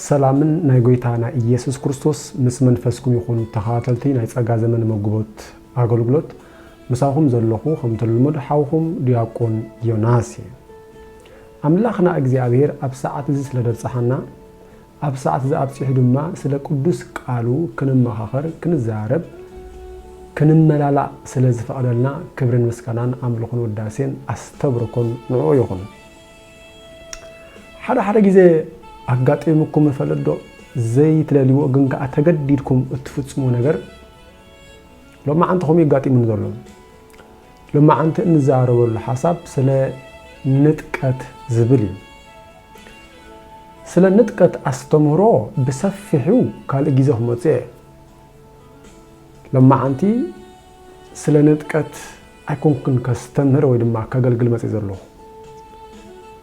ሰላምን ናይ ጎይታ ናይ ኢየሱስ ክርስቶስ ምስ መንፈስኩም ይኹን ተኸታተልቲ ናይ ጸጋ ዘመን መጉቦት ኣገልግሎት ምሳኹም ዘለኹ ከምተልሙድ ሓውኹም ድያቆን ዮናስ እየ ኣምላኽና እግዚኣብሔር ኣብ ሰዓት እዚ ስለ ደብጽሓና ኣብ ሰዓት እዚ ኣብጺሑ ድማ ስለ ቅዱስ ቃሉ ክንመኻኸር ክንዘራረብ ክንመላላእ ስለ ዝፈቐደልና ክብርን ምስጋናን ኣምልኹን ውዳሴን ኣስተብርኮን ንዕኡ ይኹን ሓደ ሓደ ግዜ ኣጋጢሙኩም ይፈልጥዶ? ዘይትደልይዎ ግን ከኣ ተገዲድኩም እትፍጽምዎ ነገር ሎማዓንቲ ከምኡ የጋጢሙኒ ዘሎ። ሎማዓንቲ እንዛረበሉ ሓሳብ ስለ ንጥቀት ዝብል እዩ። ስለ ንጥቀት ኣስተምህሮ ብሰፊሑ ካልእ ግዜ ክመጽእ እየ። ሎማዓንቲ ስለ ንጥቀት ኣይኮንኩን ከስተምህር ወይ ድማ ከገልግል መጺእ ዘሎኹ።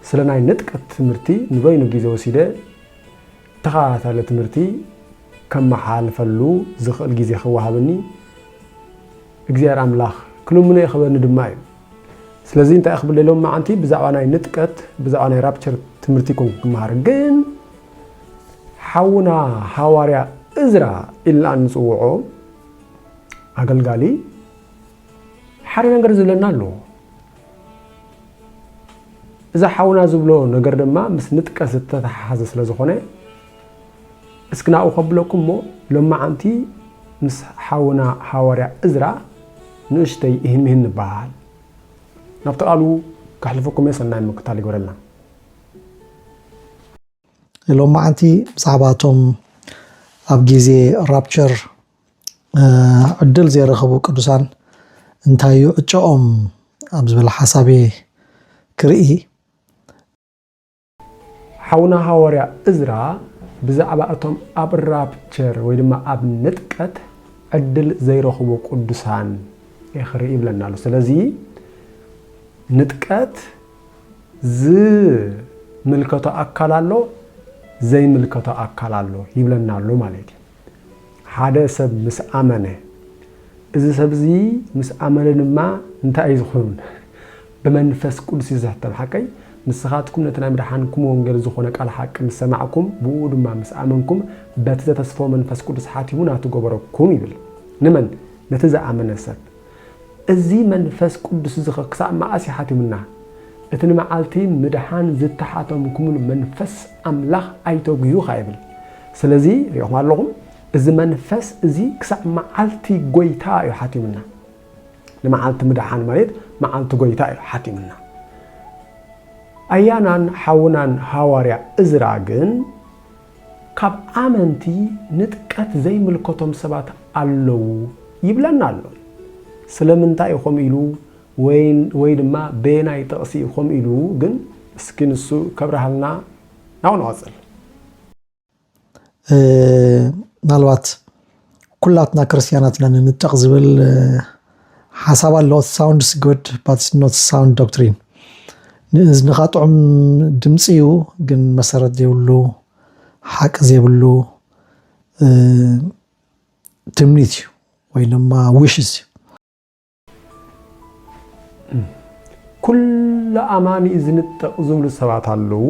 ስለ ናይ ንጥቀት ትምህርቲ ንበይኑ ጊዘ ወሲደ ተኸታታሊ ትምህርቲ ከመሓላልፈሉ ዝኽእል ጊዜ ክወሃበኒ እግዚኣብሔር ኣምላኽ ክልምኖ እየ ክበኒ ድማ እዩ። ስለዚ እንታይ ክብል ሎም መዓንቲ ብዛዕባ ናይ ንጥቀት ብዛዕባ ናይ ራፕቸር ትምህርቲ ይኮንኩ ክመሃር ግን ሓውና ሃዋርያ እዝራ ኢልና እንጽውዖ ኣገልጋሊ ሓደ ነገር ዝብለና ኣሎ እዛ ሓውና ዝብሎ ነገር ድማ ምስ ንጥቀት ዝተተሓሓዘ ስለ ዝኾነ እስኪ ናብኡ ከብለኩም እሞ ሎማዓንቲ ምስ ሓውና ሃዋርያ እዝራ ንእሽተይ ይህንህን ንበሃል ናብቲ ቃሉ ከሕልፈኩም እየ ሰናይ ምክታል ይግበረልና ሎማዓንቲ ብዛዕባ እቶም ኣብ ግዜ ራፕቸር ዕድል ዘይረኸቡ ቅዱሳን እንታይ እዩ ዕጨኦም ኣብ ዝበለ ሓሳብ እየ ክርኢ። ሓውና ሃዋርያ እዝራ ብዛዕባ እቶም ኣብ ራፕቸር ወይ ድማ ኣብ ንጥቀት ዕድል ዘይረኽቡ ቅዱሳን እየ ክርኢ ይብለና ኣሎ። ስለዚ ንጥቀት ዝምልከቶ ኣካል ኣሎ፣ ዘይምልከቶ ኣካል ኣሎ ይብለና ኣሎ ማለት እዩ። ሓደ ሰብ ምስ ኣመነ፣ እዚ ሰብ እዚ ምስ ኣመነ ድማ እንታይ እዩ ዝኹን? ብመንፈስ ቅዱስ እዩ ዝሕተም፣ ሓቀይ? ንስኻትኩም ነቲ ናይ ምድሓንኩም ወንጌል ዝኾነ ቃል ሓቂ ምስ ሰማዕኩም፣ ብእኡ ድማ ምስ ኣመንኩም፣ በቲ ዘተስፈወ መንፈስ ቅዱስ ሓቲሙ ናቱ ገበረኩም ይብል። ንመን? ነቲ ዝኣመነ ሰብ። እዚ መንፈስ ቅዱስዚኸ ክሳዕ መኣስ ይሓትዩምና? እቲ ንመዓልቲ ምድሓን ዝተሓተምኩምሉ መንፈስ ኣምላኽ ኣይተጕዩ ኸኣ ይብል። ስለዚ፣ ርኢኹም ኣለኹም፣ እዚ መንፈስ እዚ ክሳዕ መዓልቲ ጐይታ እዩ ሓትዩምና። ንመዓልቲ ምድሓን ማለት መዓልቲ ጐይታ እዩ ሓትዩምና። ኣያናን ሓውናን ሃዋርያ እዝራ ግን ካብ ኣመንቲ ንጥቀት ዘይምልከቶም ሰባት ኣለዉ ይብለና ኣሎ። ስለምንታይ እዩ ከምኡ ኢሉ ወይ ድማ በየናይ ጥቕሲ እዩ ከምኡ ኢሉ ግን እስኪ ንሱ ከብርሃልና ናብኡ ንቐጽል። ምናልባት ኩላትና ክርስትያናት ኢና ንንጠቕ ዝብል ሓሳብ ኣሎ ሳውንድስ ጉድ ባት ኖት ሳውንድ ዶክትሪን ንእዝንኻ ጥዑም ድምፂ እዩ ግን መሰረት ዘይብሉ ሓቂ ዘይብሉ ትምኒት እዩ ወይ ድማ ውሽስ እዩ ኩሉ ኣማኒ እዩ ዝንጠቕ ዝብሉ ሰባት ኣለዉ።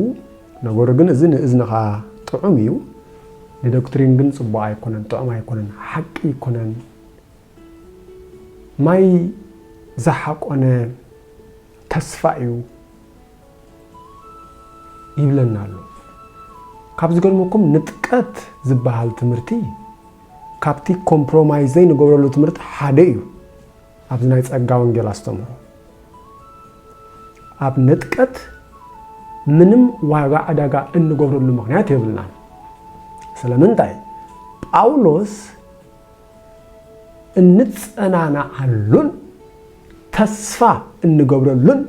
ነገሩ ግን እዚ ንእዝንኻ ጥዑም እዩ፣ ንዶክትሪን ግን ጽቡቕ ኣይኮነን፣ ጥዑም ኣይኮነን፣ ሓቂ ኣይኮነን። ማይ ዝሓቆነ ተስፋ እዩ ይብለና ኣሎ። ካብ ዝገርመኩም ንጥቀት ዝበሃል ትምህርቲ ካብቲ ኮምፕሮማይዝ ዘይንገብረሉ ትምህርቲ ሓደ እዩ ኣብዚ ናይ ጸጋ ወንጌል ኣስተምህሮ። ኣብ ንጥቀት ምንም ዋጋ ዕዳጋ እንገብረሉ ምክንያት የብልናን። ስለምንታይ? ጳውሎስ እንጸናናዓሉን ተስፋ እንገብረሉን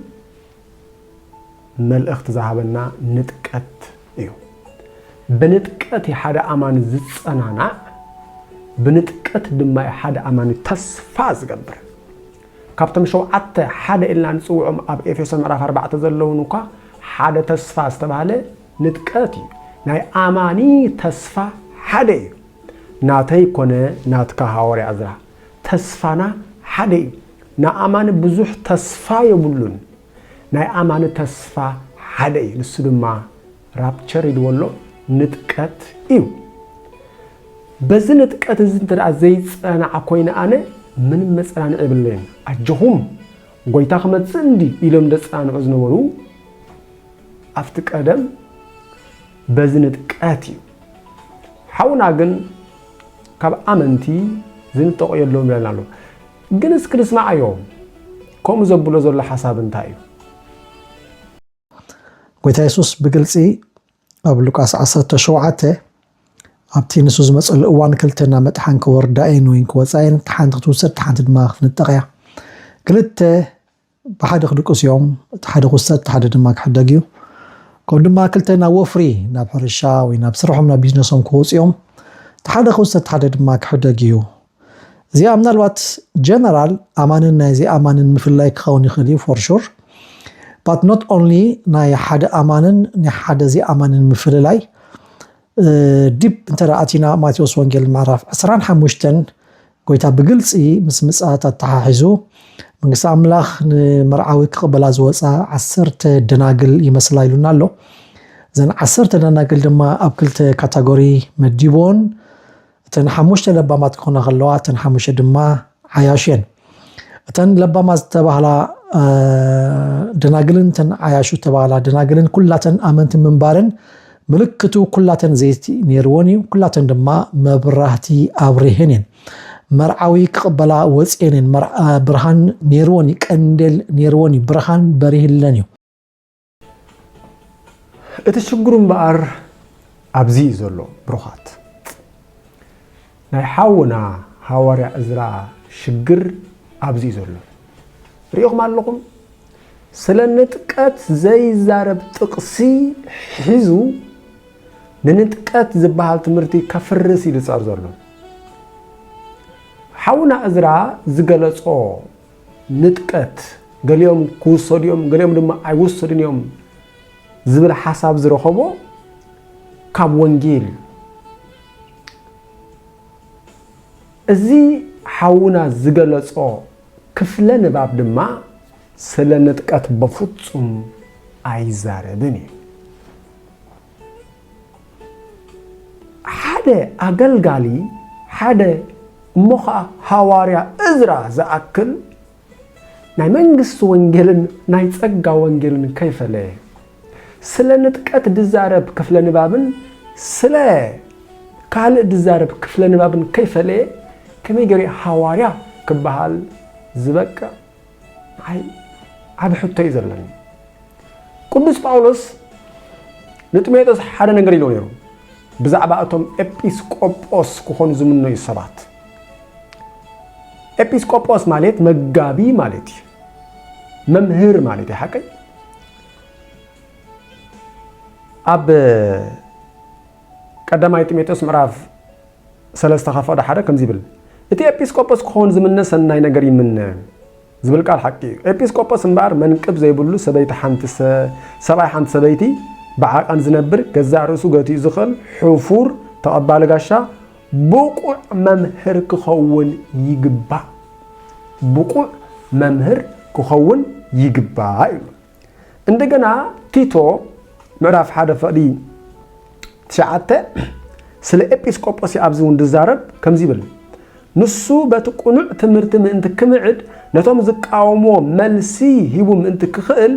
መልእኽቲ ዝሃበና ንጥቀት እዩ። ብንጥቀት እዩ ሓደ ኣማኒ ዝጸናናዕ፣ ብንጥቀት ድማ እዩ ሓደ ኣማኒ ተስፋ ዝገብር። ካብቶም ሸውዓተ ሓደ ኢልና ንጽውዖም ኣብ ኤፌሶ ምዕራፍ ኣርባዕተ ዘለውን እኳ ሓደ ተስፋ ዝተባህለ ንጥቀት እዩ። ናይ ኣማኒ ተስፋ ሓደ እዩ። ናተይ ኮነ ናትካ ሃዋርያ ዕዝራ ተስፋና ሓደ እዩ ንኣማኒ ብዙሕ ተስፋ የብሉን ናይ ኣማኒ ተስፋ ሓደ እዩ ንሱ ድማ ራፕቸር ኢልዎ ኣሎ ንጥቀት እዩ በዚ ንጥቀት እዚ እንተ ዘይፀናዕ ኮይነ ኣነ ምንም መፀናንዒ የብለይን ኣጆኹም ጎይታ ክመፅእ እንዲ ኢሎም ደፀናንዑ ዝነበሩ ኣብቲ ቀደም በዚ ንጥቀት እዩ ሓውና ግን ካብ ኣመንቲ ዝንጠቆ የለውም ይብለና ኣሎ። ግን እስኪ ንስማዓዮ ከምኡ ዘብሎ ዘሎ ሓሳብ እንታይ እዩ? ጎይታ የሱስ ብግልፂ ኣብ ሉቃስ 17 ኣብቲ ንሱ ዝመፀሉ እዋን ክልተ ናብ መጥሓን ክወርዳ እየን ወይን ክወፃ እየን፣ ሓንቲ ክትውሰድ ሓንቲ ድማ ክንጠቕ እያ። ክልተ ብሓደ ክድቅሱ እዮም፣ እቲ ሓደ ክውሰድ፣ እቲ ሓደ ድማ ክሕደግ እዩ። ከምኡ ድማ ክልተ ናብ ወፍሪ፣ ናብ ሕርሻ ወይ ናብ ስርሖም፣ ናብ ቢዝነሶም ክወጹ እዮም። እቲ ሓደ ክውሰድ፣ እቲ ሓደ ድማ ክሕደግ እዩ። እዚኣ ምናልባት ጀነራል ኣማንን ናይ ዘይኣማንን ምፍላይ ክኸውን ይኽእል እዩ ፎር ሹር ባት ኖት ኦንሊ ናይ ሓደ ኣማንን ናይ ሓደ ዘይኣማንን ምፍልላይ ዲብ እንተ ኣቲና ማቴዎስ ወንጌል ምዕራፍ ዕስራን ሓሙሽተን ጎይታ ብግልፂ ምስ ምፅኣት ኣተሓሒዙ መንግስቲ ኣምላኽ ንመርዓዊ ክቕበላ ዝወፃ ዓሰርተ ደናግል ይመስላ ኢሉና ኣሎ። እዘን ዓሰርተ ደናግል ድማ ኣብ ክልተ ካታጎሪ መዲቦን እተን ሓሙሽተ ለባማት ክኾና ከለዋ እተን ሓሙሽተ ድማ ዓያሹ እየን። እተን ለባማት ዝተባህላ ደናግልን እተን ዓያሹ ዝተባህላ ደናግልን ኩላተን ኣመንቲ ምንባረን ምልክቱ ኩላተን ዘይቲ ነይርዎን እዩ። ኩላተን ድማ መብራህቲ ኣብሪህን እየን። መርዓዊ ክቕበላ ወፅኤን እየን። ብርሃን ነይርዎን እዩ። ቀንዴል ነይርዎን እዩ። ብርሃን በሪህለን እዩ። እቲ ሽግሩ እምበኣር ኣብዚ እዩ ዘሎ ብሩኻት ናይ ሓውና ሃዋርያ እዝራ ሽግር ኣብዚ እዩ ዘሎ ሪኢኹም ኣለኹም ስለ ንጥቀት ዘይዛረብ ጥቕሲ ሒዙ ንንጥቀት ዝበሃል ትምህርቲ ከፍርስ እዩ ዝፀር ዘሎ ሓውና እዝራ ዝገለፆ ንጥቀት ገሊኦም ክውሰዱ እዮም ገሊኦም ድማ ኣይውሰዱን እዮም ዝብል ሓሳብ ዝረኸቦ ካብ ወንጌል እዩ። እዚ ሓውና ዝገለጾ ክፍለ ንባብ ድማ ስለ ንጥቀት በፍጹም ኣይዛረብን እዩ። ሓደ ኣገልጋሊ ሓደ እሞ ኸኣ ሃዋርያ እዝራ ዝኣክል ናይ መንግስቲ ወንጌልን ናይ ጸጋ ወንጌልን ከይፈለየ ስለ ንጥቀት ድዛረብ ክፍለ ንባብን ስለ ካልእ ድዛረብ ክፍለ ንባብን ከይፈለየ ከመይ ገይሩ ሃዋርያ ክበሃል ዝበቅዕ? ንዓይ ዓቢ ሕቶ እዩ ዘለኒ ቅዱስ ጳውሎስ ንጢሞቴዎስ ሓደ ነገር ኢልዎ ነይሩ ብዛዕባ እቶም ኤጲስቆጶስ ክኾኑ ዝምነዩ ሰባት ኤጲስቆጶስ ማለት መጋቢ ማለት እዩ መምህር ማለት እዩ ሓቀይ ኣብ ቀዳማይ ጢሞቴዎስ ምዕራፍ ሰለስተ ካብ ፍቕዲ ሓደ ከምዚ ይብል፣ እቲ ኤጲስቆጶስ ክኸውን ዝምነ ሰናይ ነገር ይምነ ዝብል ቃል ሓቂ እዩ። ኤጲስቆጶስ እምበኣር መንቅብ ዘይብሉ ሰበይቲ ሓንቲ ሰብኣይ ሓንቲ ሰበይቲ ብዓቃን ዝነብር ገዛእ ርእሱ ገቲኡ ዝኽእል ሕፉር ተቐባሊ ጋሻ ብቑዕ መምህር ክኸውን ይግባእ ብቑዕ መምህር ክኸውን ይግባእ ይብሉ። እንደገና ቲቶ ምዕራፍ ሓደ ፍቕዲ ትሽዓተ ስለ ኤጲስቆጶስ ኣብዚ እውን ዝዛረብ ከምዚ ይብል ንሱ በቲ ቅኑዕ ትምህርቲ ምእንቲ ክምዕድ ነቶም ዝቃወሞ መልሲ ሂቡ ምእንቲ ክኽእል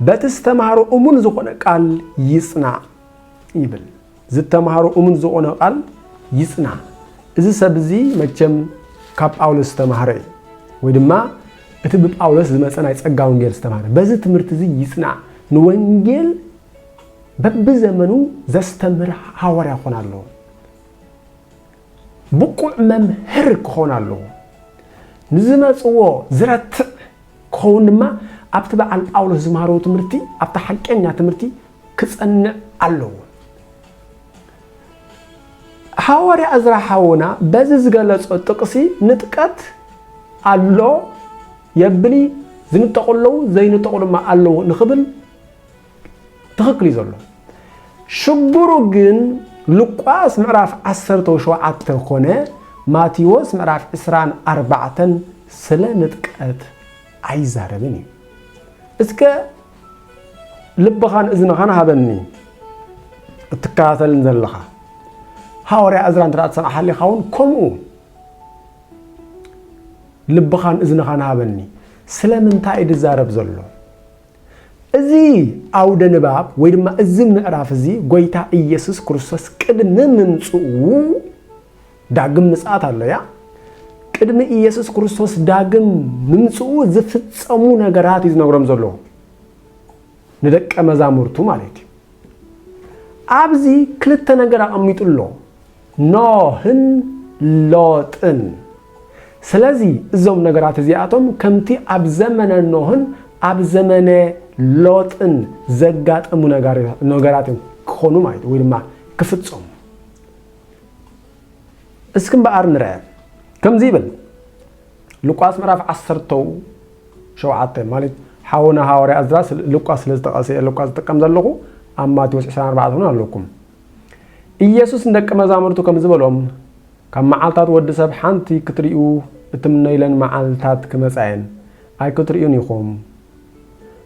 በቲ ዝተምሃሮ እሙን ዝኾነ ቃል ይጽናዕ ይብል ዝተማህሮ እሙን ዝኾነ ቃል ይጽና። እዚ ሰብ እዚ መቸም ካብ ጳውሎስ ዝተማህረ እዩ ወይ ድማ እቲ ብጳውሎስ ዝመጸ ናይ ጸጋ ወንጌል ዝተማህረ በዚ ትምህርቲ እዚ ይጽና። ንወንጌል በብዘመኑ ዘስተምህር ሃዋርያ ክኾን ኣለዎ። ብቑዕ መምህር ክኾን ኣለዎ። ንዝመጽዎ ዝረትዕ ክኸውን ድማ ኣብቲ በዓል ጳውሎስ ዝመሃሮ ትምህርቲ ኣብቲ ሓቀኛ ትምህርቲ ክጸንዕ ኣለዎ። ሃዋርያ እዝራ ሓውና በዚ ዝገለጾ ጥቕሲ ንጥቀት ኣሎ የብሊ ዝንጠቑ ኣለዉ ዘይንጠቑ ድማ ኣለዉ ንኽብል ትኽክል እዩ ዘሎ ሽግሩ ግን ሉቃስ ምዕራፍ ዓሰርተ ወሸውዓተ ኮነ ማቴዎስ ምዕራፍ ዕስራን ኣርባዕተን ስለ ንጥቀት ኣይዛረብን እዩ እስከ ልብኻን እዝንኻን ሃበኒ እትከታተልን ዘለኻ ሃዋርያ እዝራ እንተ ትሰምዓ ሓሊኻ እውን ከምኡ ልብኻን እዝንኻን ሃበኒ ስለምንታይ እዩ ዝዛረብ ዘሎ እዚ ኣውደ ንባብ ወይ ድማ እዚ ምዕራፍ እዚ ጎይታ ኢየሱስ ክርስቶስ ቅድሚ ምምጽኡ ዳግም ምጽኣት ኣሎያ ቅድሚ ኢየሱስ ክርስቶስ ዳግም ምምጽኡ ዝፍጸሙ ነገራት እዩ ዝነግሮም ዘሎ ንደቀ መዛሙርቱ ማለት እዩ ኣብዚ ክልተ ነገር ኣቐሚጡ ኣሎ ኖህን ሎጥን። ስለዚ እዞም ነገራት እዚኣቶም ከምቲ ኣብ ዘመነ ኖህን ኣብ ዘመነ ሎጥን ዘጋጠሙ ነገራት እዮም ክኾኑ ማለት ወይ ድማ ክፍፀሙ። እስኪ እምበኣር ንርአ ከምዚ ይብል ሉቃስ ምዕራፍ ዓሰርተው ሸውዓተ ማለት ሓውና ሃዋርያ እዝራ ሉቃስ ስለ ዝጠቐሰ ሉቃስ ዝጥቀም ዘለኹ ኣብ ማቴዎስ 24 እውን ኣለኩም ኢየሱስ ንደቂ መዛሙርቱ ከምዚ በሎም፣ ካብ መዓልታት ወዲ ሰብ ሓንቲ ክትርእዩ እትምነዩለን መዓልታት ክመጻ እየን፣ ኣይክትርእዩን ኢኹም።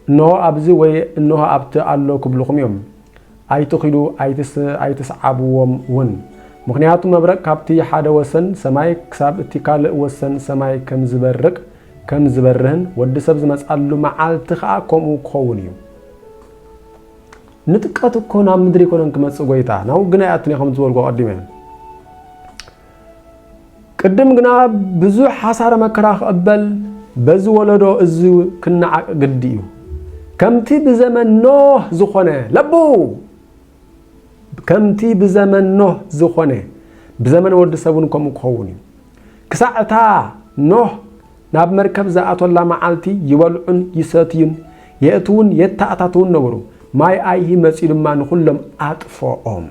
እንሆ ኣብዚ ወይ እንሆ ኣብቲ ኣሎ ክብልኹም እዮም። ኣይትኺዱ ኣይትስዓብዎም እውን። ምኽንያቱ መብረቅ ካብቲ ሓደ ወሰን ሰማይ ክሳብ እቲ ካልእ ወሰን ሰማይ ከም ዝበርቅ ከም ዝበርህን ወዲ ሰብ ዝመጻሉ መዓልቲ ከኣ ከምኡ ክኸውን እዩ። ንጥቀት እኮ ናብ ምድሪ ኣይኮነን ክመጽእ ጎይታ ናብ ውግን ኣይኣቱን እየ ከም ዝበልኩ ኣቐዲመ ቅድም ግና ብዙሕ ሓሳረ መከራ ክቕበል በዚ ወለዶ እዚ ክነዓቅ ግዲ እዩ ከምቲ ብዘመን ኖህ ዝኾነ ለቡ ከምቲ ብዘመን ኖህ ዝኾነ ብዘመን ወዲ ሰብ እውን ከምኡ ክኸውን እዩ ክሳዕ እታ ኖህ ናብ መርከብ ዝኣቶላ መዓልቲ ይበልዑን ይሰትዩን፣ የእትዉን የተኣታትዉን ነበሩ። ማይ ኣይሂ መጺኡ ድማ ንኹሎም ኣጥፎኦም።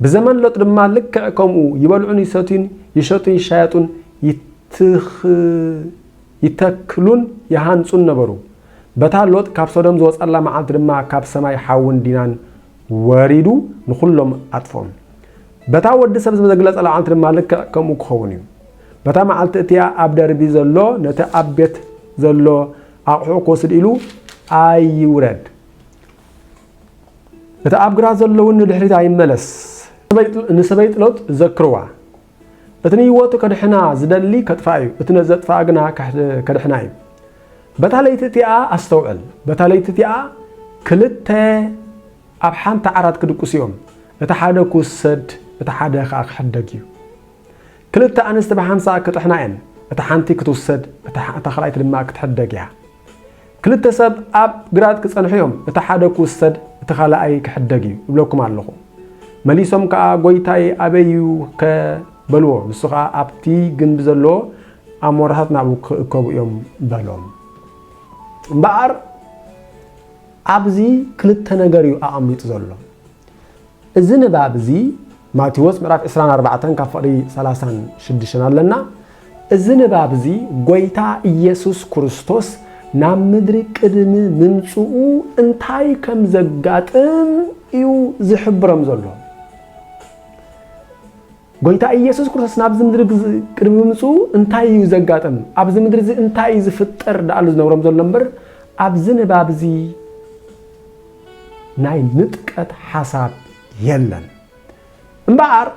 ብዘመን ሎጥ ድማ ልክዕ ከምኡ ይበልዑን ይሰትዩን፣ ይሸጡን ይሻየጡን፣ ይተክሉን ይሃንጹን ነበሩ። በታ ሎጥ ካብ ሶዶም ዝወጽኣላ መዓልቲ ድማ ካብ ሰማይ ሓውን ዲናን ወሪዱ ንኹሎም ኣጥፍኦም። በታ ወዲ ሰብ ዝተግለጸላ መዓልቲ ድማ ልክዕ ከምኡ ክኸውን እዩ። በታ መዓልቲ እቲኣ ኣብ ደርቢ ዘሎ ነቲ ኣብ ቤት ዘሎ ኣቕሑ ክወስድ ኢሉ ኣይውረድ። እቲ ኣብ ግራት ዘሎ እውን ንድሕሪት ኣይመለስ። ንሰበይ ጥሎት ዘክርዋ፣ እቲ ንህይወቱ ከድሕና ዝደሊ ከጥፍኣ እዩ፣ እቲ ነዘጥፍኣ ግና ከድሕና እዩ። በታ ለይቲ እቲኣ ኣስተውዕል፣ በታ ለይቲ እቲኣ ክልተ ኣብ ሓንቲ ዓራት ክድቅሱ እዮም፣ እቲ ሓደ ክውሰድ፣ እቲ ሓደ ኸኣ ክሕደግ እዩ። ክልተ ኣንስቲ ብሓንሳእ ክጥሕና እየን፣ እታ ሓንቲ ክትውሰድ፣ እታ ኻልኣይቲ ድማ ክትሕደግ እያ። ክልተ ሰብ ኣብ ግራት ክጸንሑ እዮም፣ እቲ ሓደ ክውሰድ፣ እቲ ኻልኣይ ክሕደግ እዩ፣ እብለኩም ኣሎኹ። መሊሶም ከኣ፣ ጐይታይ፣ ኣበይ እዩኸ? በልዎ። ንሱ ኸኣ፣ ኣብቲ ግምቢ ዘሎ ኣሞራታት ናብኡ ኪእከቡ እዮም፣ በሎም። እምበኣር፣ ኣብዚ ክልተ ነገር እዩ ኣቐሚጡ ዘሎ። እዚ ንባብ እዚ ማቴዎስ ምዕራፍ ዕስራን ኣርባዕተን ካብ ፍቕሪ ሰላሳን ሽዱሽተን ኣለና። እዚ ንባብ እዚ ጎይታ ኢየሱስ ክርስቶስ ናብ ምድሪ ቅድሚ ምምጽኡ እንታይ ከም ዘጋጥም እዩ ዝሕብሮም ዘሎ። ጎይታ ኢየሱስ ክርስቶስ ናብዚ ምድሪ ቅድሚ ምምጽኡ እንታይ እዩ ዘጋጥም፣ ኣብዚ ምድሪ እዚ እንታይ እዩ ዝፍጠር ደኣሉ ዝነብሮም ዘሎ እምበር ኣብዚ ንባብ እዚ ናይ ንጥቀት ሓሳብ የለን እምበኣር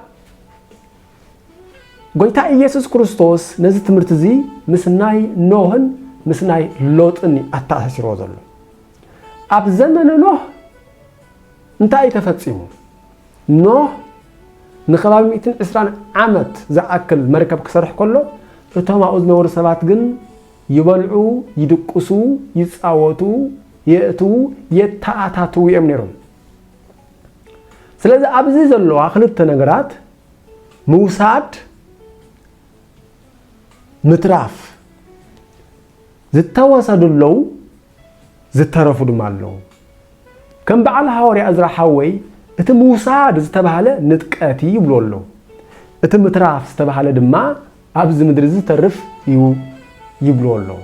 ጎይታ ኢየሱስ ክርስቶስ ነዚ ትምህርቲ እዚ ምስ ናይ ኖህን ምስ ናይ ሎጥን እዩ ኣተኣሳሲርዎ ዘሎ ኣብ ዘመነ ኖህ እንታይ እዩ ተፈፂሙ ኖህ ንከባቢ 120 ዓመት ዝኣክል መርከብ ክሰርሕ ከሎ እቶም ኣብኡ ዝነበሩ ሰባት ግን ይበልዑ፣ ይድቅሱ፣ ይጻወቱ፣ የእትዉ፣ የተኣታትዉ እዮም ነይሮም። ስለዚ ኣብዚ ዘለዋ ክልተ ነገራት ምውሳድ፣ ምትራፍ ዝተወሰዱ ኣለዉ፣ ዝተረፉ ድማ ኣለዉ። ከም በዓል ሃወርያ እዝራ ሓወይ እቲ ምውሳድ ዝተባህለ ንጥቀት እዩ ይብልዎ ኣለዉ። እቲ ምትራፍ ዝተባህለ ድማ ኣብዚ ምድሪ እዚ ዝተርፍ እዩ ይብልዎ ኣለዉ።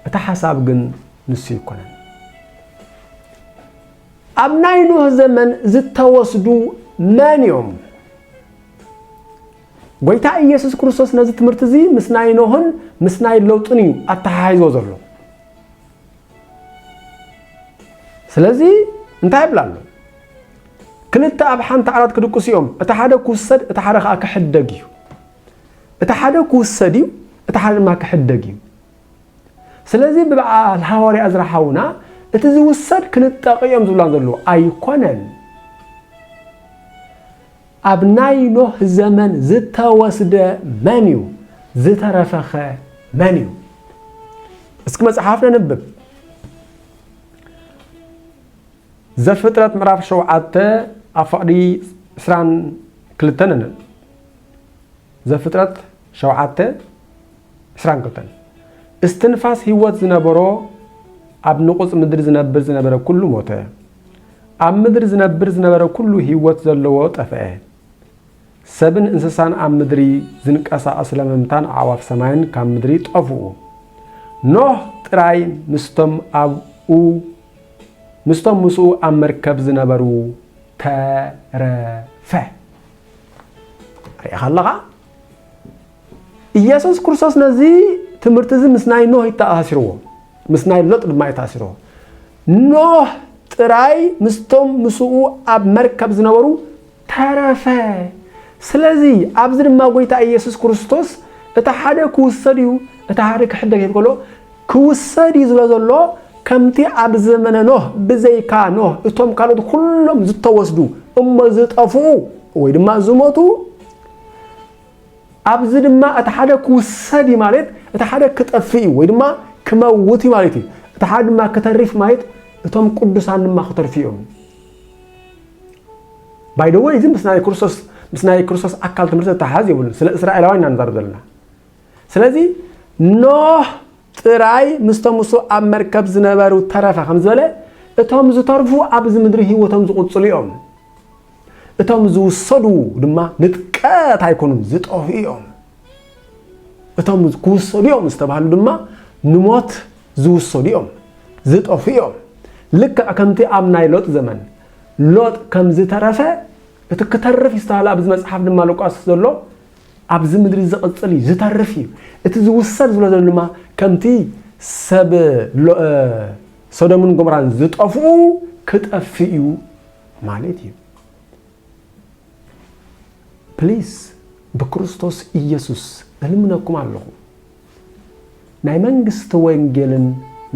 እቲ ሓሳብ ግን ንሱ ኣይኮነን። ኣብ ናይ ኖህ ዘመን ዝተወስዱ መን እዮም? ጐይታ ኢየሱስ ክርስቶስ ነዚ ትምህርቲ እዚ ምስ ናይ ኖህን ምስ ናይ ሎጥን እዩ ኣተሓሒዝዎ ዘሎ። ስለዚ እንታይ ይብል ኣሎ? ክልተ ኣብ ሓንቲ ዓራት ክድቅሱ እዮም፣ እቲ ሓደ ክውሰድ እቲ ሓደ ከዓ ክሕደግ እዩ። እቲ ሓደ ክውሰድ እዩ፣ እቲ ሓደ ድማ ክሕደግ እዩ። ስለዚ ብበዓል ሃዋርያ እዝራ ሓውና እቲ ዝውሰድ ክንጠቂ እዮም ዝብላ ዘለዎ ኣይኮነን። ኣብ ናይ ኖህ ዘመን ዝተወስደ መን እዩ? ዝተረፈኸ መን እዩ? እስኪ መጽሓፍ ነንብብ። ዘፍጥረት ምዕራፍ ሸውዓተ ኣብ ፈቕዲ ዕስራን ክልተን ነንብብ። ዘፍጥረት ሸውዓተ ዕስራን ክልተን እስትንፋስ ህይወት ዝነበሮ ኣብ ንቑጽ ምድሪ ዝነብር ዝነበረ ኩሉ ሞተ። ኣብ ምድሪ ዝነብር ዝነበረ ኩሉ ህይወት ዘለዎ ጠፍኤ። ሰብን እንስሳን ኣብ ምድሪ ዝንቀሳቐስ ለመምታን ኣዕዋፍ ሰማይን ካብ ምድሪ ጠፍኡ። ኖህ ጥራይ ምስቶም ኣብኡ ምስቶም ምስኡ ኣብ መርከብ ዝነበሩ ተረፈ። ርኢኻ ኣለኻ? ኢየሱስ ክርስቶስ ነዚ ትምህርቲ እዚ ምስ ናይ ኖህ ይተኣሳሲርዎ ምስ ናይ ሎጥ ድማ ይተኣሲርዎ ኖህ ጥራይ ምስቶም ምስኡ ኣብ መርከብ ዝነበሩ ተረፈ ስለዚ ኣብዚ ድማ ጎይታ ኢየሱስ ክርስቶስ እቲ ሓደ ክውሰድ እዩ እቲ ሓደ ክሕደግ ይብል ከሎ ክውሰድ እዩ ዝብሎ ዘሎ ከምቲ ኣብ ዘመነ ኖህ ብዘይካ ኖህ እቶም ካልኦት ኩሎም ዝተወስዱ እሞ ዝጠፍኡ ወይ ድማ ዝሞቱ ኣብዚ ድማ እቲ ሓደ ክውሰድ እዩ ማለት እቲ ሓደ ክጠፍእ እዩ ወይ ድማ ክመውት እዩ ማለት እዩ። እቲ ሓደ ድማ ክተሪፍ ማለት እቶም ቅዱሳን ድማ ክተርፉ እዮም። ባይ ደወይ እዚ ምስ ናይ ክርስቶስ ምስ ናይ ክርስቶስ ኣካል ትምህርቲ ዝተሓዝ የብሉን። ስለ እስራኤላውያን ኢና ንዛረብ ዘለና። ስለዚ ኖህ ጥራይ ምስቶም እሱ ኣብ መርከብ ዝነበሩ ተረፈ ከም ዝበለ እቶም ዝተርፉ ኣብዚ ምድሪ ህይወቶም ዝቕፅሉ እዮም። እቶም ዝውሰዱ ድማ ንጥቀት ኣይኮኑን ዝጠፍኡ እዮም። እቶም ክውሰዱ እዮም ዝተባህሉ ድማ ንሞት ዝውሰዱ እዮም ዝጠፍኡ እዮም። ልክዕ ከምቲ ኣብ ናይ ሎጥ ዘመን ሎጥ ከም ዝተረፈ እቲ ክተርፍ ይስተሃል ኣብዚ መጽሓፍ ድማ ሉቃስ ዘሎ ኣብዚ ምድሪ ዝቕጽል እዩ ዝተርፍ እዩ እቲ ዝውሰድ ዝብሎ ዘሎ ድማ ከምቲ ሰብ ሶዶምን ጎምራን ዝጠፍኡ ክጠፍእ እዩ ማለት እዩ ፕሊስ ብክርስቶስ ኢየሱስ እልምነኩም ኣለኹ ናይ መንግስቲ ወንጌልን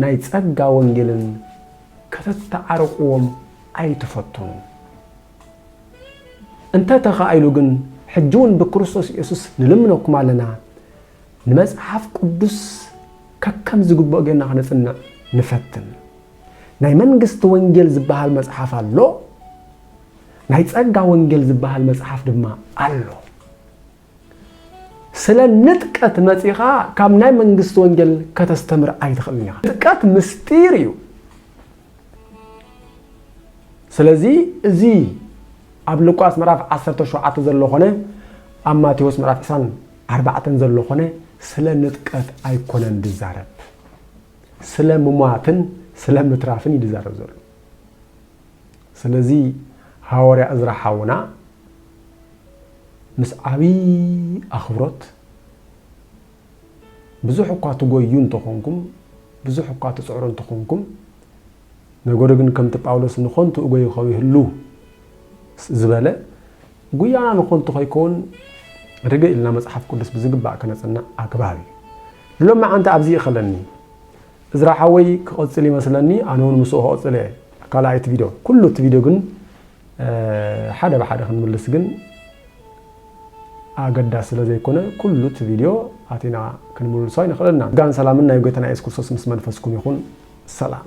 ናይ ጸጋ ወንጌልን ከተተዓርቕዎም ኣይትፈትኑ እንተ ተኻኢሉ ግን ሕጂ እውን ብክርስቶስ ኢየሱስ ንልምነኩም ኣለና ንመጽሓፍ ቅዱስ ከከም ዝግብኦ ጌርና ክነጽንዕ ንፈትን ናይ መንግስቲ ወንጌል ዝበሃል መጽሓፍ ኣሎ፣ ናይ ጸጋ ወንጌል ዝበሃል መጽሓፍ ድማ ኣሎ። ስለ ንጥቀት መጺኻ ካብ ናይ መንግስቲ ወንጌል ከተስተምር ኣይትኽእልን ኢኻ። ንጥቀት ምስጢር እዩ። ስለዚ እዚ ኣብ ሉቃስ ምዕራፍ 17 ዘሎ ኮነ ኣብ ማቴዎስ ምዕራፍ 24 ዘሎ ኮነ ስለ ንጥቀት ኣይኮነን ዝዛረብ። ስለ ምሟትን ስለ ምትራፍን እዩ ዝዛረብ ዘሎ። ስለዚ ሃወርያ እዝራ ሓውና ምስ ዓብይ ኣኽብሮት ብዙሕ እኳ ትጎዩ እንተኾንኩም ብዙሕ እኳ ትፅዕሩ እንተኾንኩም ነገሩ ግን ከምቲ ጳውሎስ ንኾንቱ እጎዩ ከይህሉ ዝበለ ጉያና ንኾንቱ ከይከውን ርግእ ኢልና መጽሓፍ ቅዱስ ብዝግባእ ከነጽናዕ ኣግባብ እዩ። ንሎም መዓንቲ ኣብዚ ይኸለኒ እዝራ ሓወይ ክቕጽል ይመስለኒ ኣነ እውን ምስኡ ክቕጽል እየ ካልኣይቲ ቪድዮ ኩሉ እቲ ቪድዮ ግን ሓደ ብሓደ ክንምልስ ግን ኣገዳሲ ስለ ዘይኮነ ኩሉ እቲ ቪድዮ ኣቲና ክንምልሶ ኣይንኽእልናን። ጸጋን ሰላምን ናይ ጎይታና ኢየሱስ ክርስቶስ ምስ መንፈስኩም ይኹን። ሰላም።